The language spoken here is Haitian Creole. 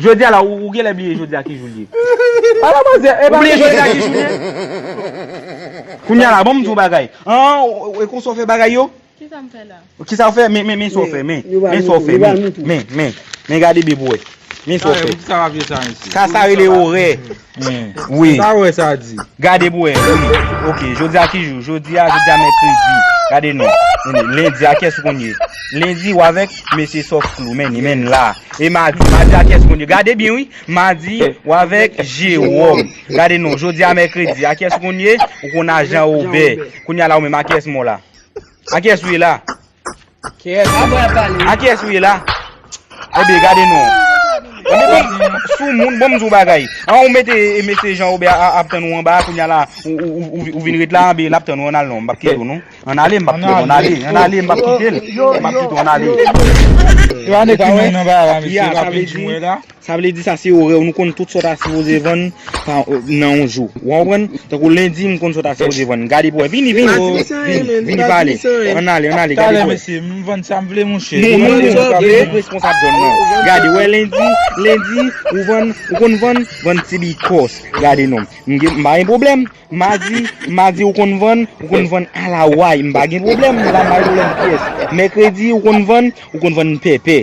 Jodi a la ou genlè bliye jodi a ki jou l ye. Ala manzè e pa. Ou bliye jodi a ki jou l ye. Kounye a la bon m di w bagay. E konsa w fè bagay yo? Kisa m fè la? Kisa w fè? Men sa w fè men. Men sa w fè men. Men gade byen pou w wè. Men sa w fè. Sa sa rele orè. Mpa wè sa di. Gade pou wè. Ok jodi a ki jou? Jodi a jodi a mèkredi. Gade non. Lendi a kiyès ou konn ye? Lendi ou avèk mesye sof flou menni menn la. E madi? Madi a kiyès ou konn ye? Gade byen wi. Madi ou avèk jewòm. Gade non. Jodi a mèkredi. A kiyès ou konn ye? Ou konn a jan obè. Kounya la ou menm a kiyès mwen w la? A kiyès ou ye la? Kèèt, a kiyès ou ye la? Ebyen gade non. Ebyen sou moun, bon m di w bagay. An ou mete mesye Jean Robert ap tann ou anba a kounya la ou vin ret la anben l ap tann ou an al non m p ap kite w non. An ale m p ap kite w an ale. An ale m p ap kite l. M p ap kite w an ale. Yo ane kouman nan ba a la mesye m ap vin di w wè la. Sa vle di sa se orè w, nou konn tout sa w ta sipoze vann nan yon jou. Ou konprann? Tankou lendi m konn sa w ta sipoze vann. Gade pou wè. Vini, vini. Vini pale. Ann ale, ann ale. Gade pou wè. Talè mesye, m vann sa m vle monchè. Nou menm nou menm ki tout responsab zòn nan. Gade, wè lendi, lendi, ou vann, ou konn vann, vann ti bikòs. Gade non. M gen, m pa gen pwoblèm. Madi, madi ou konn vann, ou konn vann alaway. M pa gen pwoblèm. M pa gen pwoblèm pyès. Mèkredi ou konn vann, ou konn vann pèpè.